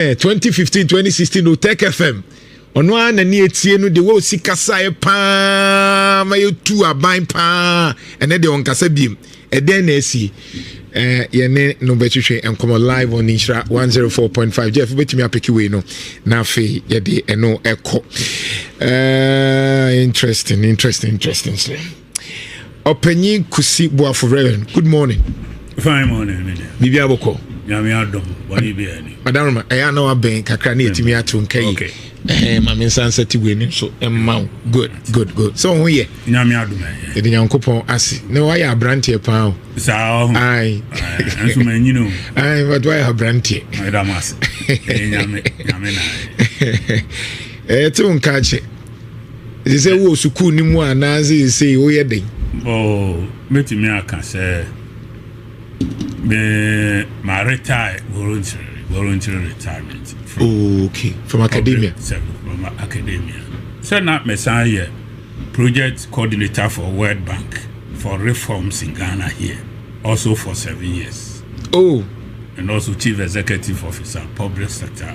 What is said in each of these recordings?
Eh, 2015 2016 no tech fm ɔno ara na ne etie no de wɔ sika saeɛ paa ma yɛtu aban paa ɛnɛ deɛ ɔnkasa biem ɛdɛn na asie eh, yɛne no bɛtwetwe nkɔmmɔ live on nhyira 104.5 jeff wobɛtumi apeke wei no na afei yɛde ɛno ɛkɔ eh, interesting interesting interesting sɛ Ɔpanyin Kusi Boafo Reverend, good morning. Fine morning, me dear. Bibi aboko. Nyame adom, bɔne bi ani. Madam Roma, ɛyɛ ana wabɛn kakra ne yɛtumi ato nka yi. Okay. Eh, ma me nsa nsɛte wo anim so mma wo. Good, good, good. Sɛ wo ho yɛ. Nyame adom ɛyɛ. Yɛde Nyankopɔn ase. Na wayɛ abranteɛ paa o. Saa ɔho. Ae. Ɛnso ma nyini o. Ae, but wayɛ abranteɛ. Ɛda mo ase. Ɛyɛ Nyame, Nyame na. Ɛyɛ te wo nka akyɛ. ɛsɛ sɛ wowɔ sukuu no mu anaa seesei woyɛ dɛn mɛtumi aka sɛ me maretire voluntary voluntary retirement from, oh, okay. from academia from academia sɛ na mesan yɛ project coordinator for world bank for reforms in ghana here also for seven years oh and also chief executive officer public sector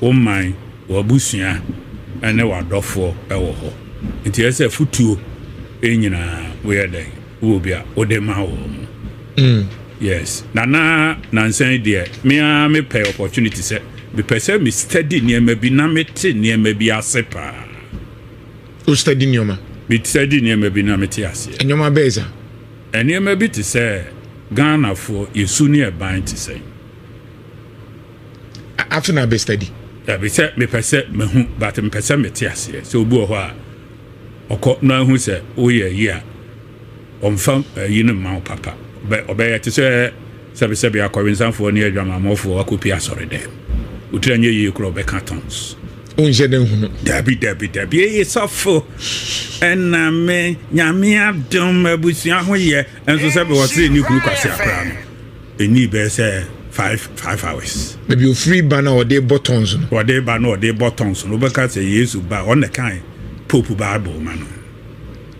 wo man, w'abusua ne w'adɔfoɔ wɔ hɔ. Nti ɛsɛ sɛ afotuo nyinaa woyɛ dɛn wɔ bi a wode ma wɔ mu. Mm. Yes. Nana nansa yi deɛ me ara mepɛ opportunity sɛ mepɛ sɛ me study nneɛma bi na mete nneɛma bi ase paa. O study nneɛma? Me study nneɛma bi na mete aseɛ. Nneɛma bɛyɛ sa? Nneɛma bi te sɛ Ghanafoɔ yɛsu ne ɛban te sɛn. afei na abɛ study. dabi sɛ mepɛ sɛ mahu but mepɛ sɛ mete aseɛ sɛ obi wɔ hɔ a ɔkɔ na ahu sɛ woyɛ yi a ɔmfa ayi no mma wo papa ɔbɛyɛ te sɛ sɛbesɛbe akɔwensanfoɔ ne adwamammɔfoɔ akɔpie asɔre dɛ wotiri anyɛ yie korɔ ɔbɛka tons wonhyɛ dɛ hunu dabi dabi dabi eye sɔfo ɛna me nyame adom abusua ho yɛ nso sɛ bɛwɔ sere ne kuru kwase akora no Ɛnii bɛyɛ sɛ five five hours. Baabi ɔfiri ba no a ɔde rebɔ tons no. Ɔde reba no a ɔde rebɔ tons no, wobɛka sɛ Yesu ba a, ɔno na ɛkae Pope Bible ma no.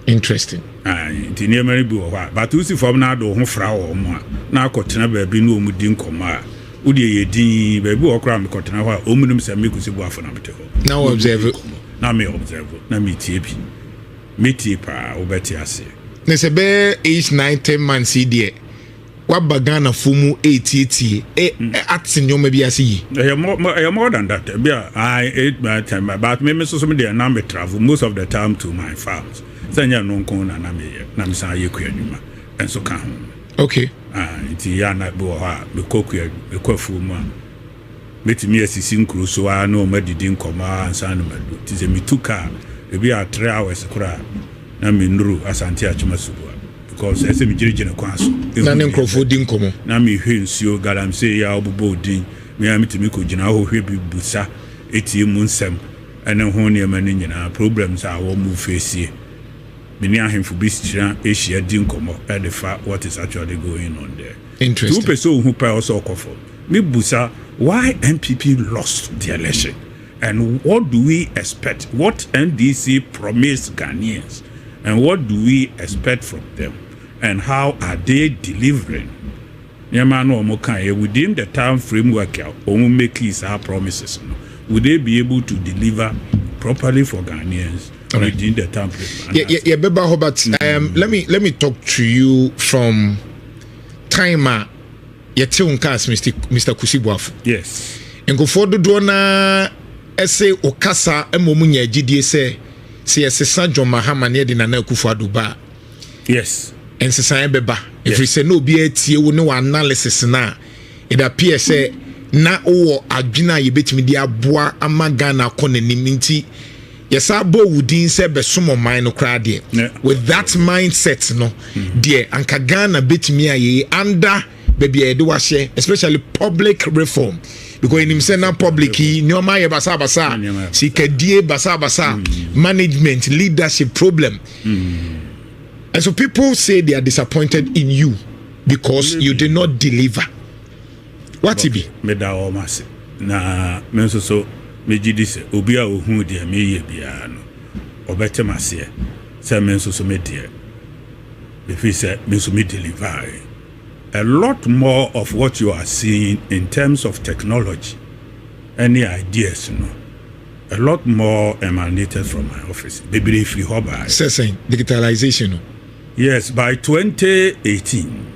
Interesting. Aye, nti nneɛma no bi wɔ hɔ a, but wosi fam na ade wo ho fra wɔn a, na akɔtena baabi ne wɔn di nkɔmmɔ a, wodeɛ yɛ din, baabi wɔ hɔ koraa mekɔtena hɔ a, wɔn nim sɛ me Kwesi Boafo na mete hɔ. Na wo observe. Na me observe, na metie bi. Metie paa, wobɛte aseɛ. Na sɛ bɛyɛ eight, nine, ten months yi deɛ. waba ghanafoɔ mu ɛretietie eh, mm. eh, ate nneɛma bi ase yi ɛyɛ more than that bi a i ate my time but me me soso me deɛ na me travel most of the time to my farms sɛ nyɛ no nko na na meyɛ na mesan yɛ kua nnwuma nso ka ho okay ah, nti yɛ ana bi wɔ hɔ a mekɔ kua mekɔ afuo mu a Mɛtumi asisi nkuro so ara ne wɔn adidi nkɔmmɔ ara ansa na madu. Nti sɛ metu ka a, ebia three hours koraa na mennuru Asante Atwima Suboa because ɛsɛ sɛ megyinagyina kwan so hu nneɛma. Na mehwɛ nsuo, galamsey yi a wɔbobɔ wo din, me ara metumi kɔgyina hɔ hwɛ bi, bisa, tie mu nsɛm ne ho nneɛma no nyinaa, problems a wɔfeesie. Me ne ahemfo bi hyia di nkɔmmɔ de fa what is actually going on there. Nti wopɛ sɛ ohu paa ɔsɛ ɔkɔ fam. Me busa why NPP lost the election and what do we expect what NDC promised Ghanaians and what do we expect from them and how are they delivering nneɛma no wɔn kaeɛ within the time framework a wɔn makee saa promises no would they be able to deliver properly for Ghanaians within the time frame. Yeah, yeah, yeah, Beba Hobart. Um, let me let me talk to you from time a yɛte wo nka as mr kusi boafo yes nkurɔfoɔ dodoɔ no ara ɛse wo kasa ma ɔmu nya agyidie sɛ sɛ yɛsesa john mahama ne yɛde nana akufo ado ba a yes nsesaeɛ bɛba ɛfiri sɛ na obiara tie wo ne wɔ analysis no a It appears sɛ na wowɔ adwene a yɛbɛtumi de aboa ama Ghana akɔ n'anim nti yɛsaa bɔɔ wo din sɛ bɛsom ɔman no koraa deɛ. With that mindset no mm-hmm. deɛ anka Ghana bɛtumi ayɛ anda baabi a yɛde wahyɛ especially public reform because ɛnim sɛ na public yi nneɛma ayɛ basabasa sikadie basabasa mm. management leadership problem mm. and so people say they are disappointed in you because you did not deliver wate bi. meda wɔn ase na me nso so megye di sɛ obi a ohuu deɛ meyɛ biara no ɔbɛte m aseɛ sɛ me nso so me deɛ ɛfiri sɛ me nso me deliver a lot more of what you are seeing in terms of technology any ideas no a lot more emanated from my office bebree firi hɔ baa sɛ sɛn digitalization no Yes by twenty eighteen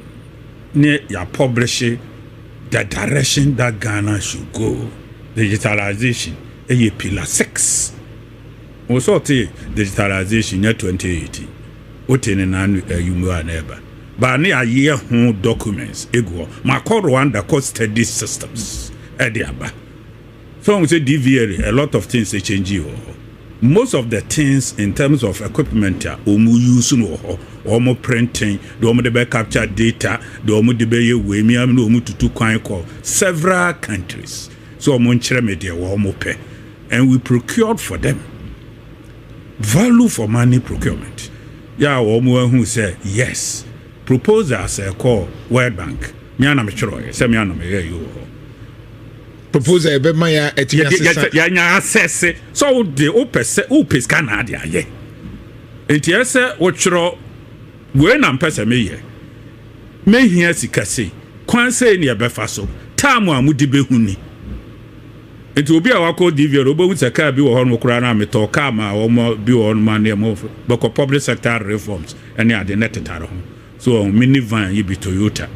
ne ya publishe the direction that Ghana should go digitalization ɛyɛ pillar six wo sɛ ɔte digitalization nyɛ twenty eighteen wote ne na ɛyi mu a na ɛba ba ne ayɛ ho documents egu hɔ makɔ Rwanda kɔ study systems ɛde aba. So woahu sɛ DVR a lot of things ɛkyɛngyii wɔ hɔ. Most of the things in terms of equipment a wɔn use no wɔ hɔ, wɔn printing, deɛ wɔn de bɛ capture data, deɛ wɔn de bɛ yɛ wei, mmea no wɔn tutu kwan kɔ several countries. So wɔn nkyerɛ me deɛ wɔn pɛ. And we procured for them. Value for money procurement. Yɛ a wɔn ahu sɛ yes. Proposal sɛ kɔɔ World Bank. Me ara na me twerɛeɛ sɛ me ara na me yɛɛyɛ wɔ hɔ. Proposal yɛ bɛ ma yɛ ɛti yɛ sisa. Yɛ nya asɛse sɛ wo de wo pɛ sɛ wo pɛ sika na ade ayɛ. Nti yɛ sɛ wo twerɛ wei na mpɛ sɛ me yɛ. Me hia sika sei. Kwan sei ne yɛ bɛ fa so. Time a mo di bɛ hu ni. Nti obi a wakɔ DVR wo bɛ hu sɛ car bi wɔ hɔ nom koraa na me tɔɔ car ma wɔn bi wɔ hɔ nom a ne yɛ mo bɛ kɔ public sector reforms. ɛne ade na ɛtetare ho. So wɔn mini van yi bi Toyota?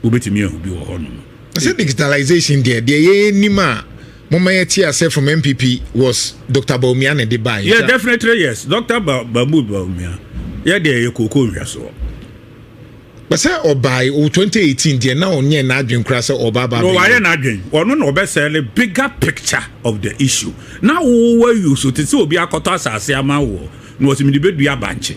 Wobɛtumi ahu bi wɔ hɔnom. Sɛ digitalization deɛ, deɛ yɛnim a momma yɛte asɛ from NPP was Dr. Bawumia na ɛde baeɛ. Yeah, definitely yes. Dr. Mahmood Bawumia, yɛ deɛ yɛ kooko nhwɛsoɔ. But sɛ ɔbae o 2018 deɛ na ɔnyɛ n'adwen koraa sɛ ɔba ba. No, wayɛ n'adwen. Ɔno na ɔbɛsɛle bigger picture of the issue. Na wowɔ use te sɛ obi akɔtɔ asase ama wɔ Na ɔse mede bɛdua bankye.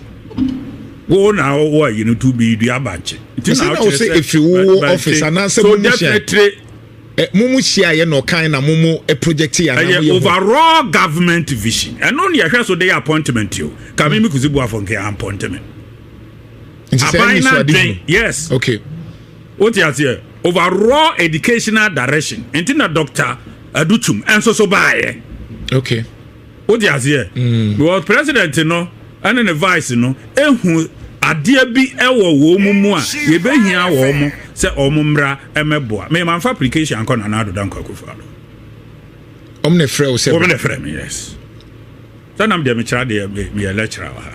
Wo na wowɔ ayi no to bi dua bankye. Nti na wokyerɛ sɛ ɛfiri wo office anaasɛ so definitely. Eh, mo mu hyia yɛ na ɔkan na mo mo eh, project yɛ anaa mo yɛ overall government vision ɛno ne yɛhwɛ so de yɛ appointment o ka me me kusi bu afɔ nke appointment aban na dwen yes okay o ti aseɛ overall educational direction nti na doctor adutum ɛnso so baayɛ okay Wote aseɛ? Because president no ɛne ne vice no ehu adeɛ bi ɛwɔ wɔn mu a yɛbɛhia wɔn sɛ wɔn mmra ɛmɛboa. Mema nfa application ankɔ Nana Addo Dankwa Akufo-Addo. Wɔn na ɛfrɛ wo sɛ. Wɔn na ɛfrɛ mi yes. Sɛ nam deɛ mekyerɛ adeɛ meyɛ lecturer wɔ ha.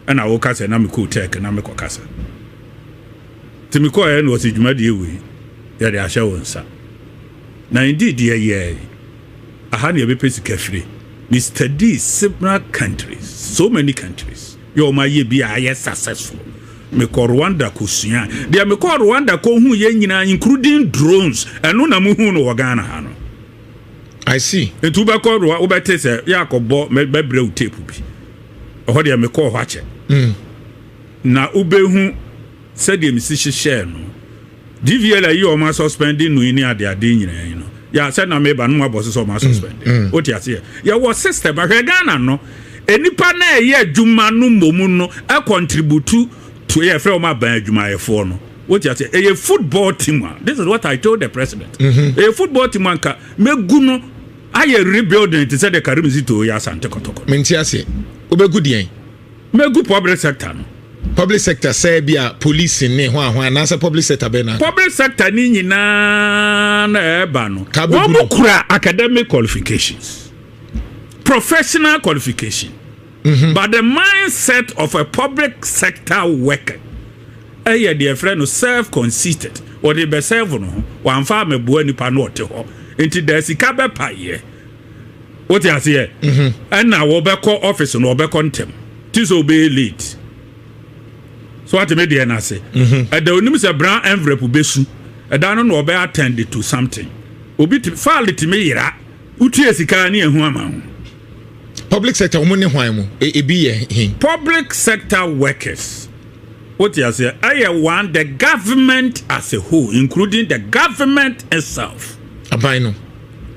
Ɛna woka sɛ na mekɔ tech na mekɔ kasa. Nti mekɔɛ na ɔsɛ dwumadie wei yɛde ahyɛ wo nsa. Na indeed yɛyɛɛ. aha na yɛbɛpɛ sika firi me study several countries so many countries yɛ wɔn ayɛ bi a ayɛ successful mekɔ rwanda kɔsua deɛ mekɔ rwanda kɔhu yɛ nyinaa including drones ɛno na muhu no wɔ ghana ha no I see. Nti wobɛkɔ roa wobɛte sɛ yɛ akɔbɔ bɛbrɛ wo tape bi. Ɛhɔ deɛ mekɔɔ hɔ akyɛ. Mm. Na wobɛhu sɛdeɛ mesi hyehyɛɛ no. GVL ayi ɔmo asɔspɛnde no yi ne ade ade nyinaa yi no yɛ sɛ na meba no mu abɔ so sɛ ɔmo asɔspɛnde mm, mm. wote aseɛ yɛwɔ system ahwɛ Ghana no nnipa na ɛyɛ adwuma no mmom no akɔntributu to yɛ fɛ ɔmo aban adwumayɛfoɔ no wote aseɛ ɛyɛ football team a this is what I told the president mm-hmm. ɛyɛ football team anka mɛgu no ayɛ rebuilding te sɛ de karim si to yɛ asante kɔtɔkɔ menti aseɛ wobɛgu deɛn Megu public sector no. Public sector sɛ bi a police ne hwan hwan anaasɛ public sector bɛn na. Public sector ne nyinaa na ɛreba no. Wɔn kura academic qualifications, professional qualification. Mm -hmm. But the mindset of a public sector worker ɛyɛ deɛ ɛfrɛ no self conceited ɔde bɛ serve no ho wɔamfa amɛboa nipa no ɔte hɔ nti da sika bɛpa yɛ wote aseɛ mhm. ɛna wɔbɛkɔ office no wɔbɛkɔ ntɛm ti sɛ wɔbɛyɛ late so ateme deɛ no ase mhm. ɛda onim sɛ brown envelope bɛsu ɛda no na wɔbɛ attend to something obi faale tumi yera wotua sika ne ɛho ama ho public sector wɔn ne hwan mu e, ebi yɛ he public sector workers wote aseɛ ɛyɛ one the government as a whole including the government itself aban no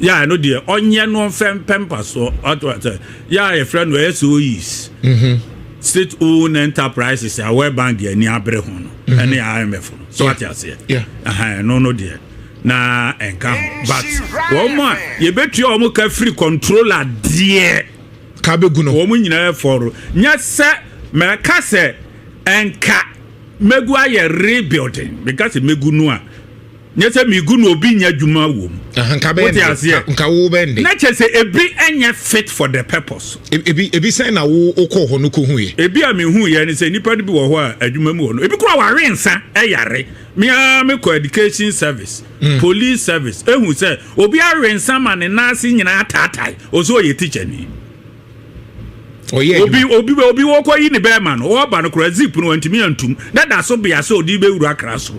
Yɛ ɛno deɛ ɔnyɛ no mfɛ mpɛ mpasoɔ ato asɛ yɛ a yɛfrɛ no SOEs mhm. state owned enterprises a World Bank deɛ ani abere ho no mhm. ɛne IMF no so ate aseɛ ɛno no deɛ na ɛnka ho but wɔn a yɛbɛtua wɔn ka firi controller deɛ ka bɛgu no wɔn nyinaa fɔro nyɛ sɛ mɛka sɛ ɛnka mɛgu ayɛ rebuilding mɛka sɛ mɛgu no a nyɛ sɛ megu na obi nyɛ adwuma wɔ mu wote aseɛ nka wo bɛn de na kyɛ sɛ ebi nyɛ fit for the purpose e, ebi ebi sɛn na wo wokɔ hɔ no kɔhu yɛ ebi a mehu yɛ ne sɛ nnipa no bi wɔ hɔ a adwuma mu wɔ no ebi kora wawe nsa ɛyare mea mekɔ education service mm. police service ehu sɛ obi awe nsa ma ne nan ase nyinaa ataatae ɔsɛ ɔyɛ teacher ni ɔyɛ obi obi obi wɔkɔ yi ne bɛrima no ɔba no kora zip no wantumi antum dada so bea sɛ ɔde bɛwura akra so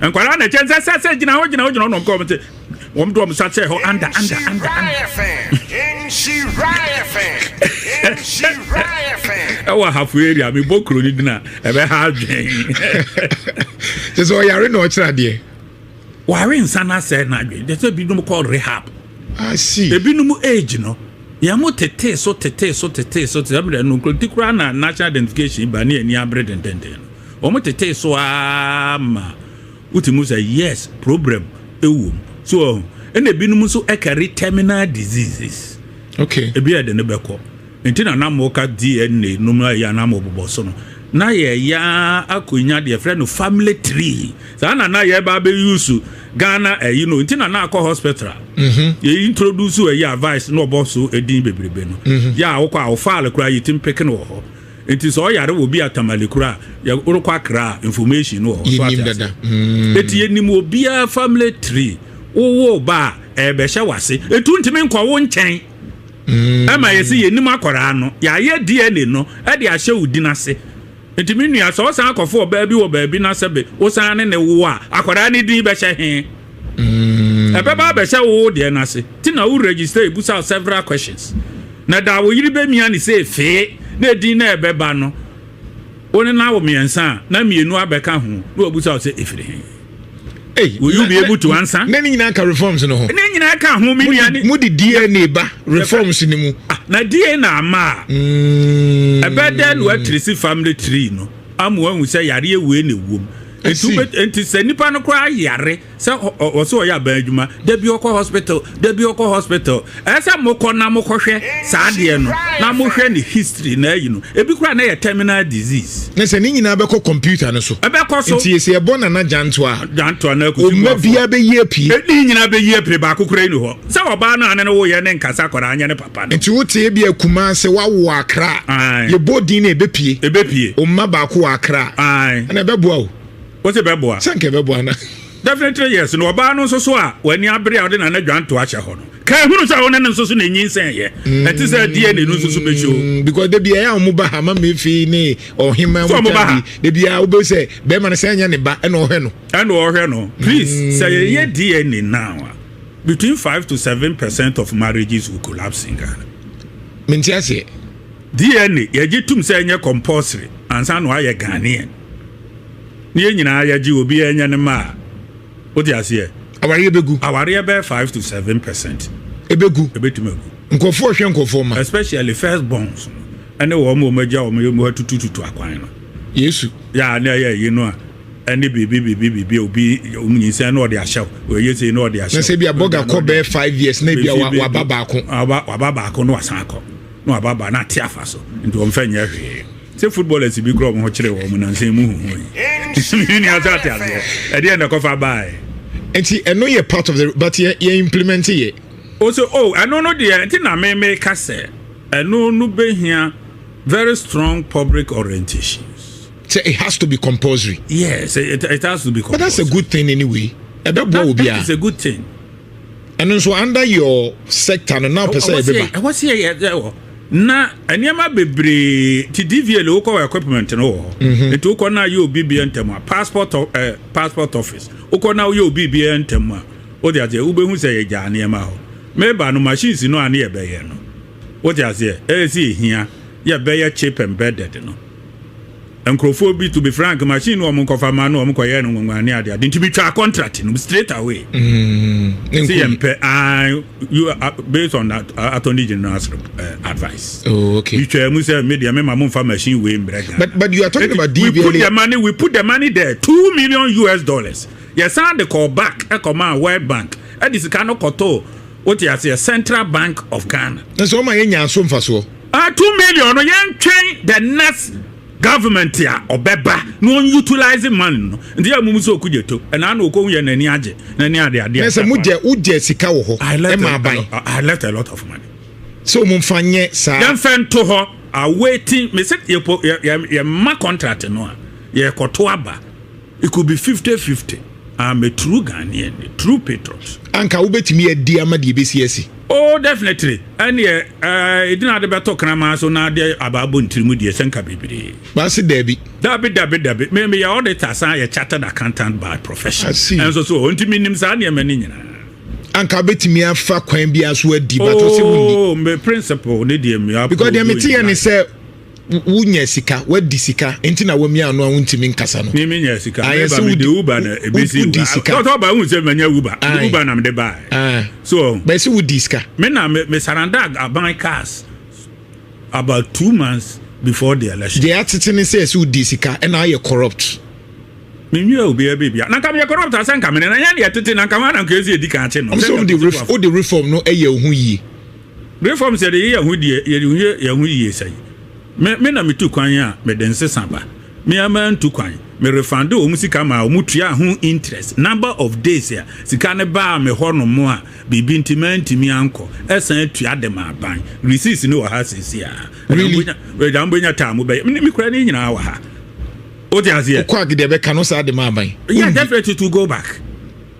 Nkwadaa na ɛkyɛ nsɛ sɛ sɛ gyina hɔ gyina hɔ gyina hɔ na ɔmka wɔn te wɔn de wɔn nsa kyerɛ hɔ anda anda anda anda. ɛwɔ ahafo area mi bɔ kuro ni dina ɛbɛ ha adwene. kyɛ sɛ ɔyare na ɔkyerɛ adeɛ. ware nsa na asɛ na adwene kyɛ sɛ binom kɔ rehab. asi ebinom age no yɛn mo tete so tete so tete so tete ɛmu dɛ no nkurotikura na national identification ba ne ani abere dendenden. Wɔtetee so ara ma wotumi hu sɛ yes, problem wɔ mu. So wɔn ɛna ebinom nso carry terminal diseases. Okay. Ebi yɛ de ne bɛkɔ. Nti na nam ka DNA no mu ayɛ anam bobɔ so no. Na yɛya akɔnya deɛ frɛ no family tree. Saa na na yɛba abɛyusu Ghana ayi no. Nti na na akɔ hospital. Mm-hmm. Yɛ introduce ɛyɛ advice na ɔbɔ so edin bebrebe no. Mm-hmm. Yɛ a wokɔ a ɔfaale koraa yɛtim peke no wɔ hɔ. Enti sɛ ɔyare wɔ bi a Tamale kura a, yɛ worekɔ akra a information no wɔ hɔ. So ate ase? Eti yɛnim obiara family tree. Wowo ba a, ɛrebɛhyɛ w'ase. Etu ntumi nkɔ wo nkyɛn. Ɛma yɛse yɛnim akwaraa no. Yɛayɛ DNA no de ahyɛ wo din ase. Enti me nua, sɛ ɔsan akɔfo ɔbaa bi wɔ baabi na sɛbe wosan ne ne wo a, akwaraa no din bɛhyɛ he? Ɛbɛba abɛhyɛ wo wo deɛ no ase. Nti na wo register yi bisa wo several questions. Na da a wo yere bɛmia ne sɛ efee, na edin no a ɛbɛba no, wo ne no awo mmiɛnsa a, na mmienu abɛka ho, na wɔabisa wo sɛ, Efiri he? Ei, wo UBA mu to ansa. Na ne nyinaa ka reforms no ho. Ne nyinaa ka ho, me nua. Mo de DNA ba reforms no mu. Ah, na DNA ama a. Mm. Ɛbɛdɛ na wɔatirisi family tree no, ama wɔahu sɛ yareɛ wei na ɛwom. Nti sɛ nipa no koraa yare sɛ ɔsɛ ɔyɛ aban adwuma da bi ɔkɔ hospital da bi ɔkɔ hospital ɛsɛ mokɔ na mokɔhwɛ saa adeɛ no na mohwɛ ne history na ayi no ebi kura na yɛ terminal disease. na sɛ ne nyinaa bɛkɔ computer no so ɛbɛkɔ so nti sɛ yɛbɔ nana gyanto a gyanto a na akusi mma biara bɛyi apie ɛdi nyinaa bɛyi apie baako kura yi ne hɔ sɛ ɔbaa no ane no woyɛ ne nkasa kɔra anyɛ ne papa no nti wote ebi akuma sɛ wawo akra yɛbɔ din na ɛbɛpie ɛbɛpie ɔmma baako wɔ akra ɛna ɛbɛboa o Wose bɛboa? Sɛ nka ɛbɛboa na. Definitely yes, na ɔbaa no nso so a w'ani abere a ɔde Nana Adwanto ahyɛ hɔ no, ka ehunu sɛ wo ne no nso so na enyinsɛn yɛ. Ɛte sɛ DNA no nso so bɛ show. Mm, because da biara a wɔn ba ha, Mama Efi ne Ɔhema So wɔn wɔn ba ha? bi, da biara wobɛhu sɛ bɛrima no sɛ ɛnyɛ ne ba ɛna ɔhwɛ no. Ɛna ɔhwɛ no. Please, sɛ yɛyɛ DNA now a, between five to seven percent of marriages will collapse in Ghana. Mente aseɛ. DNA yɛgye tom sɛ ɛnyɛ compulsory ansa na wayɛ Ghanaian. ne yɛn nyinaa yɛgye obiara nya ne mma a wote aseɛ awareɛ bɛgu awareɛ bɛyɛ five to seven percent ɛbɛgu ɛbɛtumi agu nkurɔfoɔ hwɛ nkurɔfoɔ ma especially first borns ɛne wɔn ma wɔn agya wɔn mu atutututu akwan no yesu yɛ a ne ɛyɛ yi no a ɛne biribi biribi biribi obi nyinsɛn na ɔde ahyɛw ɔyɛ sei na ɔde ahyɛw na sɛ bi abɔga kɔ bɛɛ five years na bi a waba baako waba baako na wasan akɔ na waba ba na ate afa so nti wɔn fɛ nyɛ hwee sɛ footballers bi korɔ wɔn kyerɛ wɔn nansa mu huhu yi mi ni asa ate aseɛ ɛdi yɛn na kɔfa baa yɛ. nti ɛno yɛ part of the but yɛ yɛ implement yɛ. o sɛ o ɛno no deɛ nti na mi mi ka sɛ ɛno no bɛ hia very strong public orientation. So it has to be compulsory. Yes, it, it has to be compulsory. But that's a good thing anyway. That, that, that is a good thing. ɛno nso under your sector no na ɔpɛ sɛ yɛbɛba ɛhɔ sɛ yɛyɛ wɔ na nneɛma bebree ti dvl wokɔ wɔ equipment no wɔ hɔ mhm. nti wokɔ na ayɛ obi bia ntɛm a passport eh, passport office wokɔ na woyɛ obi bia ntɛm a wode aseɛ wobɛhu sɛ yɛgyaa nneɛma hɔ meba no machines no a ne yɛbɛyɛ no wode aseɛ ɛyɛ sɛ ɛhia yɛbɛyɛ chip embedded no nkorɔfoɔ bi to be frank machine no wɔn nkɔfa ma no wɔn kɔyɛ no nwanwa ne adeade nti metwaa contract no straight away mm, sɛ yɛn pɛ you uh, based on that uh, attorney general's uh, advice oh, okay. metwaa mu sɛ me deɛ mema momfa machine wei mbrɛ Ghana but, but you are talking about DBLA. we put the money we put the money there two million US dollars yɛsan de call back ɛkɔmaa World Bank ɛde sika no kɔtoo wote aseɛ Central Bank of Ghana na sɛ ɔma yɛnya so mfasoɔ Ah two million no yɛn twɛn the next government a ɔbɛba na ɔn utilize man no nti yɛ mumu sɛ ɔkugye to ɛna na ɔkɔhu yɛ n'ani agye n'ani ade ade na sɛ mogyɛ wogyɛ sika wɔ hɔ ɛma aban I left a lot of money sɛ ɔmu mfa nyɛ saa yɛmfɛ nto hɔ awaiting me sɛ yɛmma contract no a yɛkɔto aba It could be fifty fifty. I'm a true Ghanaian, a true patriot. Anka wobɛtumi adi ama deɛ ɛbɛsi asi? Oh, definitely. Ɛneɛ, eh, ɛdina ade bɛtɔ kraman so na ade abaa bɔ ntiri mu deɛ sɛ nka bebree. Baase daabi. Dabi, dabi, dabi. Me meyɛ auditor san yɛ chartered accountant by profession. I see. Ɛnso so, nti menim saa nneɛma no nyinaa. Anka wobɛtumi afa kwan biara so adi, but ɔsɛ wonni. Oh, me principle ne deɛ me approach. Because deɛ meteɛ ne sɛ Wonya sika, wadi sika nti na wamia ano a wontumi nkasa no. Mimi nya sika. Ah, meba mede uba na ebesi uba. Tɔtɔ ba hu sɛ manya uba. Mede uba na mede ba. Ah. So. Ba si wodi sika. Me na me, me saranda aban cars about two months before the election. Deɛ atete ne sɛ ɛsɛ wodi sika ɛna ayɛ corrupt. Menwia obiara bibia. Na nka meyɛ corrupt asɛ nka mene na yɛn deɛ tete na nka ho na nka ɛsi ɛdi kan akye no. Ɔmo sɛ wode reform no ɛyɛ wo ho yie. Bere fam sɛ yɛyɛ yɛn ho deɛ yɛyɛ yɛn ho yie sɛn. Me me na metu kwan a mede nsesa ba. Me ara mantu kwan. Me refande wɔn sika maa wɔn tuaa ho interest. Number of days a sika no baa me hɔ nom a biribi nti mantumi ankɔ. Ɛsan tua de ma aban. Receipts no wɔ ha seesei ara. Really? Agya mobɛnya taa mobɛyɛ. Me me kura ne nyinaa wɔ ha. Wote aseɛ? Wokɔ ag deɛ bɛka no saa de ma aban. Yeah, definitely to go back.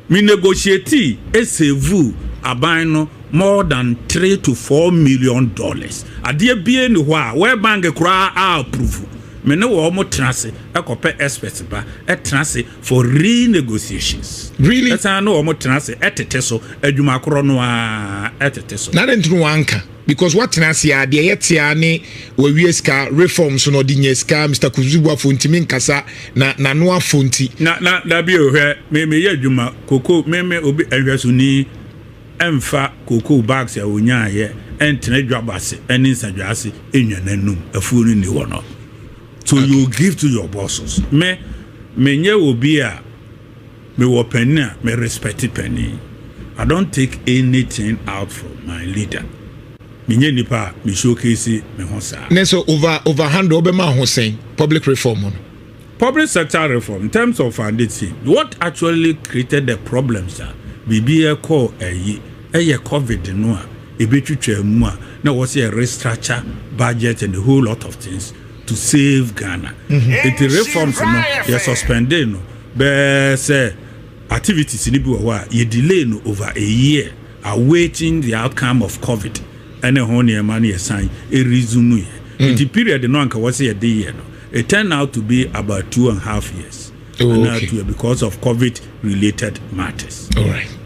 Me negotiatee esevuu aban no more than three to four million dollars. Adeɛ biaa nni hɔ a World Bank koraa a approve. Me ne wɔn tena ase kɔpɛ experts ba tena ase for renegotiations. Really? Ɛsane ne wɔn tena ase tete so, adwuma korɔ no ara tete so. Na adɛn nti na wɔanka? Because watena ase a deɛ yɛ te a ne wawie sika reforms no ɔde nya sika Mister Kutusu Boafo ntumi nkasa na n'ano afo nti. Na na dabi o hwɛ me meyɛ adwuma koko me me obi nhwɛsoni ɛmfa koko bags a onyaa yɛ ɛntena dwabɔ ase ɛne nsadwa ase ɛnwa n'anum afuo no ni hɔ no so you give to your bosses me menyɛ obi a Me wɔ panin a me respect panin I don't take anything out from my leader Me nyɛ nipa a me showcase me ho saa. Ne sɛ over over handle ɔbɛma ho sɛn public reform no. Public sector reform in terms of funding what actually created the problems a biribi ɛkɔɔ ayi ɛyɛ covid no a ɛbɛtwitwaa mu a na ɛwɔ sɛ yɛ restructure budget and a whole lot of things to save Ghana nti reforms no yɛ suspendee no Bɛɛ sɛ activities no bi wɔ hɔ a yɛ delay no over a year awaiting the outcome of covid ne ho nneɛma no yɛsan resume yɛ. Nti period no a nka wɔse yɛde yɛ no it turned out to be about two and half years anaa two years because of covid related matters.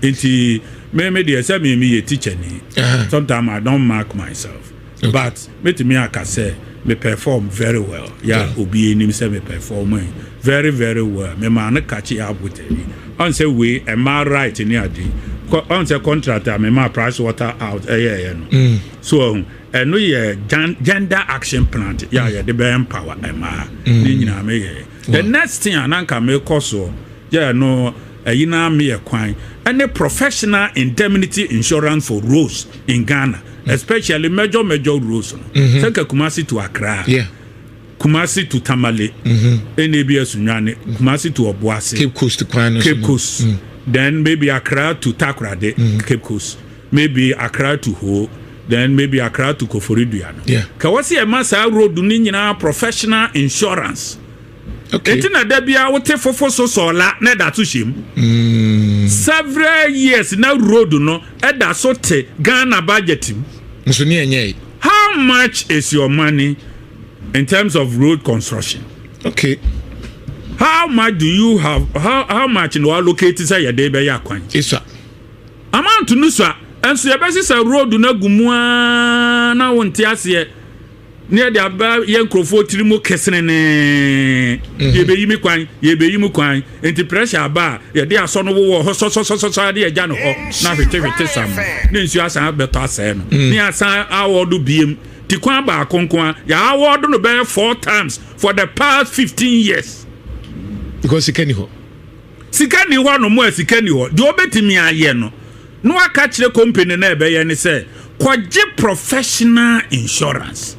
Nti me me deɛ sɛ me meyɛ teacher ni sometimes I don't mark myself. But mɛtumi aka sɛ me perform very well ya yeah. obi anim sɛ me perform eh, very very well memaa no kakye abotani ɔn sɛ wei ɛma right ne ade ɔn sɛ contract a memaa price water out ɛyɛɛyɛ no mm. so ɔhu ɛno yɛ gender action plant yɛ a yɛde bɛ empower ɛmaa mm. ne nyinaa meyɛɛ the next thing a na nka mekɔ soɔ yɛ no ɛyi na meyɛ kwan ɛne professional indemnity insurance for roads in ghana especially major major roads no mm-hmm. sɛ nka kumase to akra yeah. kumase to tamale mm-hmm. ɛna ebi asunwane mm-hmm. kumase to ɔboase cape coast kwan no cape coast mm. then maybe akra to takorade mm. cape coast maybe akra to hoo then maybe akra to koforidua no yeah. ka wɔsi ɛma saa road no nyinaa professional insurance. Okay. Eti na da bia wote fofo so sɔɔla na ɛda so hyɛ mu. Mm. Several years na road no ɛda so te Ghana budget mu. Nso ni ɛnyɛ yi. How much is your money in terms of road construction? Okay. How much do you have how how much na allocate sɛ yɛde bɛyɛ akwan? Isa. Amount no sa nso yɛbɛsi sɛ road no agu mu aa na wonte aseɛ. ne yɛde aba yɛ nkurɔfoɔ tiri mu kesenenee mhm. yɛbɛyi me kwan yɛbɛyi mu kwan nti pressure aba a yɛde asɔ no wowɔ hɔ sɔsɔsɔsɔsɔ de agya no hɔ na hwetehwete sam ne nsuo asan bɛtɔ asɛe no mhm. ne asan awɔ do biem ti kwan baako nko a yɛawɔ do no bɛyɛ four times for the past fifteen years. because sika ni hɔ. Sika nni hɔnom a, sika nni hɔ. Deɛ wɔbɛtumi ayɛ no, na wɔaka kyerɛ company no a ɛbɛyɛ ne sɛ, kɔgye professional insurance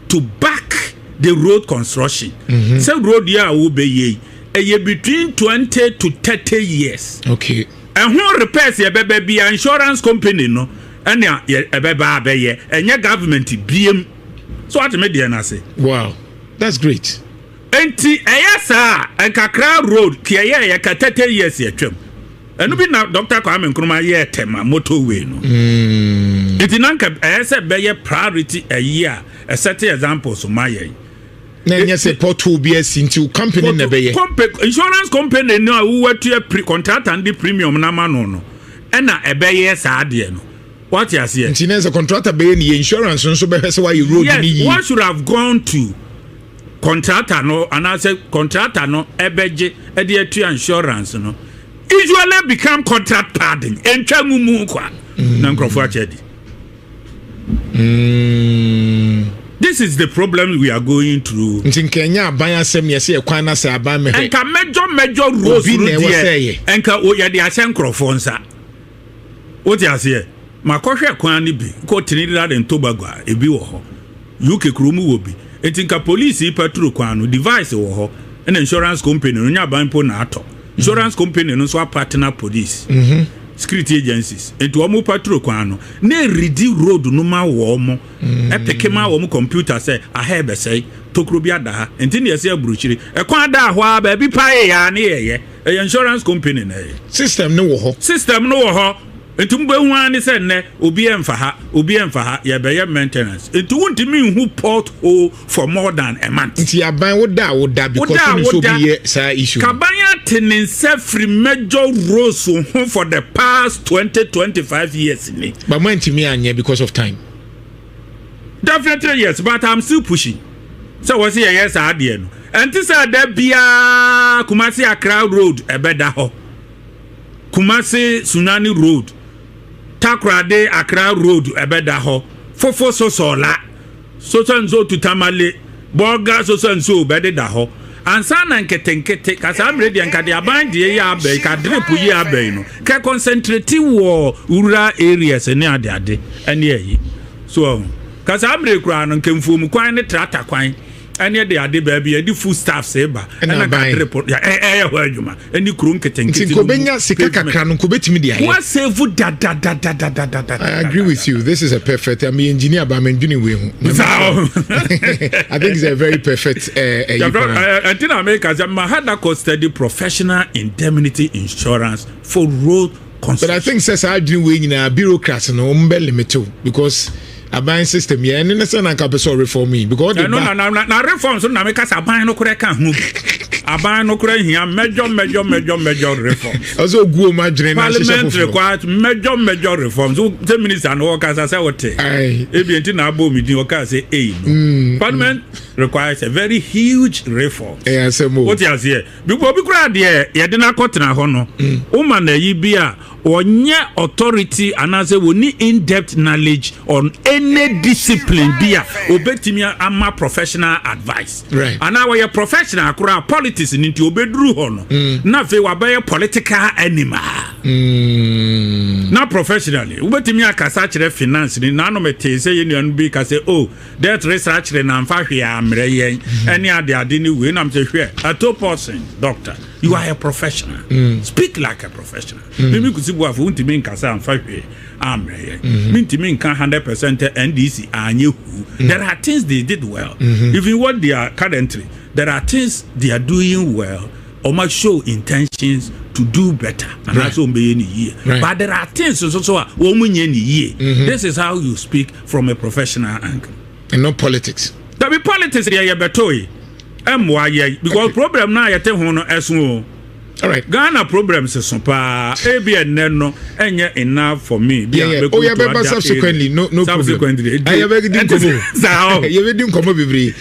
to back the road construction. Mhm. Sɛ road yi a wobɛyɛ yi, ɛyɛ between twenty to thirty years. Okay. Ɛho repairs yɛbɛbɛ bia insurance company no ɛna ɛbɛba abɛyɛ, ɛnyɛ government biem. So ateme deɛ no ase. Wow, that's great. Nti ɛyɛ saa a nka Accra road ti ɛyɛ yɛ ka thirty years yɛtwam ɛno bi na Dr. Kwame Nkrumah yɛɛ tɛma motorway no mm. nti na nka ɛyɛ sɛ bɛyɛ priority ɛyi a ɛsɛte example so ma yɛn na ɛnyɛ sɛ pothole bi asi nti wo company na ɛbɛyɛ insurance company no a wowatua pre contractor de premium no ama no no ɛna ɛbɛyɛ saa deɛ no wate aseɛ nti na sɛ contractor bɛyɛ ne yɛ insurance nso bɛhwɛ sɛ woayɛ road no yie yes what should have gone to contractor no anaasɛ contractor no ɛbɛgye ɛde atua insurance no usually become contract pardon ɛntwa mu mu kwa mm. na nkurɔfoɔ akyɛ di mm. this is the problem we are going through. nti nka ɛnyɛ aban asɛm yɛ sɛ ɛkwan na sɛ aban mɛhwɛ. nka mɛjɔ mɛjɔ rose no deɛ nka yɛde ahyɛ nkurɔfoɔ nsa. Wote aseɛ? Makɔhwɛ kwan no bi kɔ Trinidad and Tobago a, ebi wɔ hɔ. UK kuro mu wɔ bi. Enti nka police yi patro kwan no, device wɔ hɔ, ɛna insurance company no, nyɛ aban mpo na atɔ. Mm-hmm. Insurance company no nso apatena police. Mm-hmm. Security agencies. Enti wɔn patro kwan no, na eredi road no ma wɔn. Mm-hmm. Ɛpeke ma wɔn computer sɛ aha ɛbɛsɛe, tokuro bi ada ha. Enti na yɛsɛ aburukyiri. Ɛkwan da hɔ a, baabi pa yɛ a ne yɛyɛ. Ɛyɛ insurance company na ɛyɛ. System no wɔ hɔ. System no wɔ hɔ. Nti mo bɛ hu ara ne sɛ nnɛ obi ɛnfa ha, obi ɛnfa ha, yɛ bɛ yɛ maintenance. Nti wo ntumi nhu port hole for more than a month. Nti aban wo da a wo da because wo nim so bi yɛ saa issue. Kaban ate ne nsa firi major roads ho for the past twenty twenty five years ni. But mo antumi anyɛ because of time. definitely yes but i'm still pushing sɛ wɔ sɛ yɛyɛ saa adeɛ no ɛnte sɛ da biara kumase akra road ɛbɛda hɔ kumase sunani road takorade akra road ɛbɛda hɔ fofo sosola soso nso tutamale Borga sosa nsuo bɛdeda hɔ ansa na nketenkete ka saa bere deɛ nka deɛ aban deɛ yi abɛn ka drip yi abɛn no kɛ concentrate wɔ rural areas ne ade ade ɛne ayi so ɔho ka saa bere koraa no nka mfuom kwan ne trata kwan ɛne ɛde ade baabi ɛde food staffs ba ɛna ka drip ɛyɛ hɔ adwuma ɛne kuro nketenkete nti nkɔbɛnya sika kakra no nkɔbɛtumi de ayɛ wasevu dadadadadadada I agree with you this is a perfect I'm engineer but I'm engineer wei ho I think it's a very perfect ɛyi eh, eh, kwan ɛnti eh, na meka sɛ mahada kɔ study professional indemnity insurance for road but i think sɛ saa adwene wei nyinaa bureaucrat no wɔn bɛ limit o because aban system yɛ ɛne ne sɛ na nka pɛ sɛ ɔreform yi because ɔde ba na na na reform so na meka sɛ aban no korɛ ka ho aban no korɛ hia mɛdwɔ mɛdwɔ mɛdwɔ mɛdwɔ reform ɔsɛ ogu wɔn adwene na ahyehyɛ parliamentary kwa mɛdwɔ mɛdwɔ reform so sɛ minister no ɔkasa sɛ ɔte ebi nti na abɔ omi din ɔkaa sɛ eyi no mm, mm. parliament requires a very huge reform ɛyɛ asɛm o wote aseɛ Bikɔ obi koraa deɛ yɛde no akɔtena hɔ no woma no ayi bi a ɔnyɛ authority anaasɛ wɔni in-depth knowledge on any discipline bi a ɔbɛtumi ama professional advice anaa wɔyɛ professional koraa politics no nti ɔbɛduru hɔ no mm. na afei wabɛyɛ political animal mm. na professionally wobɛtumi akasa kyerɛ finance ni nanom tee sɛ yɛnnuano bi ka sɛ o oh, Death resa akyere na nfa hwee ammerɛ yɛn ɛne ade ade ne wei nam sɛ hwɛ ato person doctor you are a professional mm. speak like a professional mm. mimi kusi buafo wontumi nka sɛ amfa hwee ammerɛ yɛn mm-hmm. mentumi nka 100 percent ndc anyɛ hu mm. there are things they did well mm-hmm. even what they are currently there are things they are doing well ɔma show intentions to do better anaasɛ ɔmbɛyɛ ne yie but there are things nso so a wɔn nyɛ ne yie this is how you speak from a professional angle. And not politics. Dabi politics deɛ yɛbɛtoe ɛmmoa yɛn because okay. problem no a yɛte ho no ɛso o. Alright. Ghana problems so paa ebi ɛnɛ no ɛnyɛ enough for me. Yeah, yeah. Oh, yeah, bɛba subsequently no no problem. Subsequently. Ɛyɛ bɛ di nkɔmɔ. Saa o. Yɛ bɛ di nkɔmɔ bebree.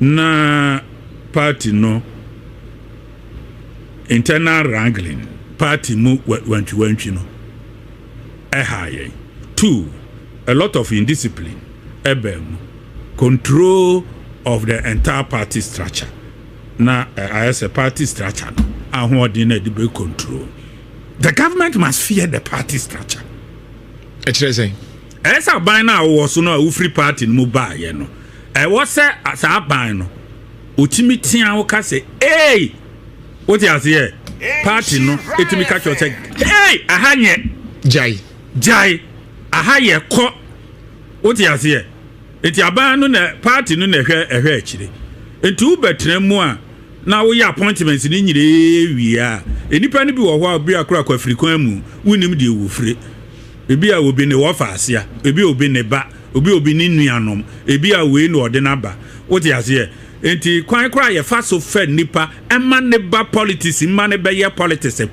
na party no internal wrangling party mu wantwiwantwi no ɛha yɛn two a lot of indiscipline ɛbɛn mu control of the entire party structure na eh, ayɛ sɛ party structure no ahoɔden na ɛde bɛ control the government must fear the party structure ɛkyerɛ sɛ Ɛyɛ sɛ aban no a wowɔ so no a wofiri party no mu baayɛ no, ɛwɔ sɛ saa aban no ɔtumi tea wo ka sɛ ei wote aseɛ party no ɛtumi ka kyerɛ sɛ ei aha nyɛ gyae gyae aha yɛ kɔ wote aseɛ nti aban no na party no na ɛhwɛ ɛhwɛ akyire nti wobɛtena mu a na woyɛ appointments no nyinaa wie a nnipa no bi wɔ hɔ a bi akora kɔ afiri kwan mu wonim deɛ wɔfire Ebi a obi ne wɔfa asea, ebi a obi ne ba, obi a obi ne nuanom, ebi a wei na ɔde n'aba. Wote aseɛ? Enti kwan koraa a yɛfa so fa nipa ma ne ba politics ma no bɛyɛ politics pɛ.